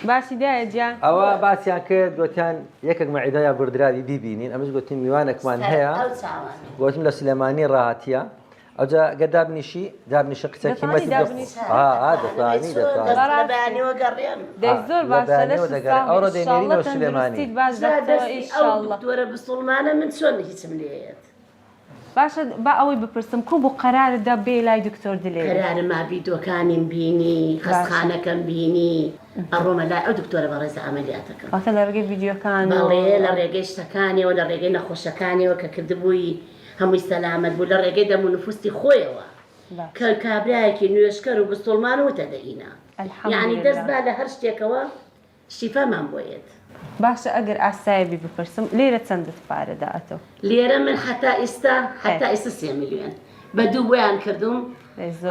باسی دایە جیان. ئەوە باسیان کرد گۆتیان یەکەک مەعیدە یا گوردراوی بیبینین ئەمش گۆتیم میوانەکمان هەیە گۆتم لە سلێمانی ڕاهاتیە ئەوجا گە دابنیشی دابنیشە قچە کیمەتی ئەوڕۆ دەێنەوە سلێمانی دوورە بسڵمانە من چۆن هیچم لێت باشە با ئەوەی بپرسم کو بو قەرارت دا بێی لای دکتۆر دلێری. قەرارمە ڤیدۆکانیم بینی خەستخانەکەم بینی ئەڕۆمە لای ئەو دکتۆرە بەڕێزە ئەمەلیاتەکەم. واتە لە ڕێگەی ڤیدیۆکان و. بەڵێ لە ڕێگەی شتەکانیەوە لە ڕێگەی نەخۆشەکانیەوە کە کردبووی هەمووی سەلامەت بوو لە ڕێگەی دەمو نفوستی خۆیەوە کە کابرایەکی نوێژکەر و بسوڵمان و وتە دەینا یانی دەست با لە هەر شتێکەوە شیفامان بۆ یەت. باشە ئەگەر ئاسایەبی بپرسم لیرە چەندت پارە دا ئەتۆ؟ لیرە من حەتا ئیستا حەتا ئیستا سێ ملیۆن بە دوو بۆیان کردووم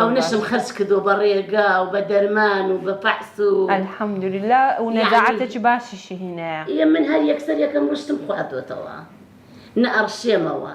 ئەونەشم خەرج کردووە بە ڕێگا و بە دەرمان و بە پەحس و الحمدللە و نەجاعەتێکی باشیشی هینایە. ئیە من هەر یەکسەر یەکەم ڕشتم خواردۆتەوە نە ئەڕشێمەوە.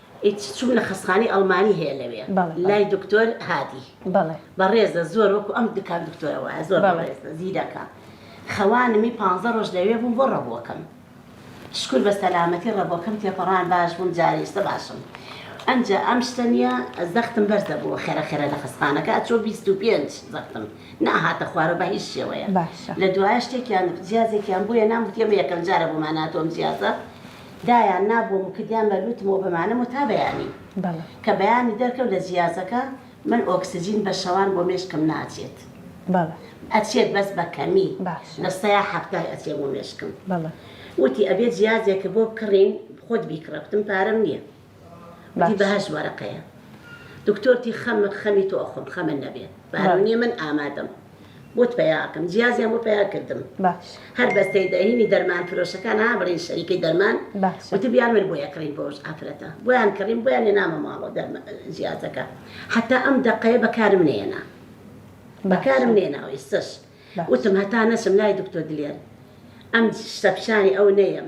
ئیتر چوم لە خەستخانەی ئەڵمانی هەیە لەوێ لای دکتۆر هادی بەڕێزە زۆر وەکو ئەم دکان دکتۆرە وایە زۆر بەڕێزە زیرەکە خەوانمی پانزە ڕۆژ لەوێ بووم بۆ ڕەبووەکەم شکر بە سەلامەتی ڕەبۆکەم تێپەڕان باش بووم جارێشتە باشم ئەمجا ئەم شتە نیە زەختم بەرزە بووە خێرە خێرە لە خستانەکە ئەچۆ 25 زەختم ناهاتە خوارە بە هیچ شێوەیە لە دوایە شتێکیان جیازێکیان بۆیە نام وتێمە یەکەم جارە بۆماناتۆم جیازە دایان نابووم و کردیان بە لووتم و بەمانم و تا بەیانی کە بەیانی دەرکەم لە جیازەکە من ئۆکسجین بە شەوان بۆ مێشکم ناچێت ئەچێت بەس بە کەمی لە سەیا حەفتای ئەچێ بۆ مێشکم وتی ئەبێ جیازێک بۆ بکڕین خۆت بیکڕە گوتم پارەم نیە باش. بەهەشت وەرەقەیە دکتۆر تی خەم خەمی تۆ ئەخۆم خەمت نەبێ بارونیە من ئامادەم بۆت پەیا ئەکەم جیازیان بۆ پەیا کردم باش هەر بەس تێی دەهینی دەرمان فرۆشەکان ها بڵین شەریکی دەرمان باشە وتبیان من بۆیە کڕیم بۆ ئەوش ئافرەتە بۆیان کڕیم بۆیان لێنامە ماڵەوە دەرمە جیازەکە حتا ئەم دەقەیە بەکارم نێنا بەکارم نێنا و ئێستش باش وتم هەتا نەچم لای دکتۆر دلێر ئەم شتە پیشانی ئەو نەیەم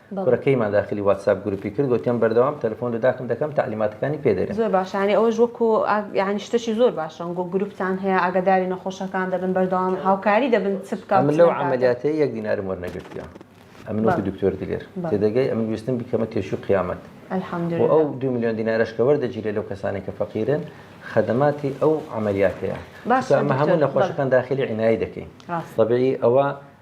کورەکەیمان داخلی واتساپ گروپی کرد گۆتیان بەردەوام تەلەفۆن لە داکم دەکەم تەعلیماتەکانی پێ دەرێم. زۆر باشە یانی ئەوەش وەکو یانی شتەکی زۆر باشە وەکو گروپتان هەیە ئاگاداری نەخۆشەکان دەبن بەردەوام هاوکاری دەبن چ بکا و چ نەکا. ئەمن لەو عەمەلیاتەی یەک دینارم وەرنەگرتیە ئەمن وەکو دکتۆر دلێر تێدەگەی ئەمن ویستم بیکەمە تێشوی قیامەت و ئەو دوو ملیۆن دینارەش کە وەردەگیرێ لەو کەسانەی کە فەقیرن خەدەماتی ئەو عەمەلیاتەیە چونکە ئەمە هەموو نەخۆشەکان داخلی عینایی دەکەین تەبیعی ئەوە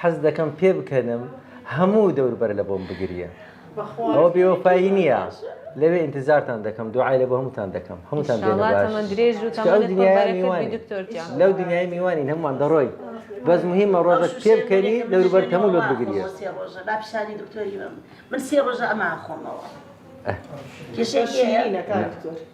حەز دەکەم پێ بکەنم هەموو دەور بەر لە بۆم بگریە ئەوە بێوەفایی نییە لەوێ انتظارتان دەکەم دوعای لە بۆ هەمووتان دەکەم هەمووتان لەو دنیای میوانی هەمووان دەڕۆی بەس مهمە ڕۆژەش پێ بکەنی دەوروبەر هەموو لۆت بگریە من سێ ڕۆژە ئەمە خۆمەوە کێشەیەکی هەیە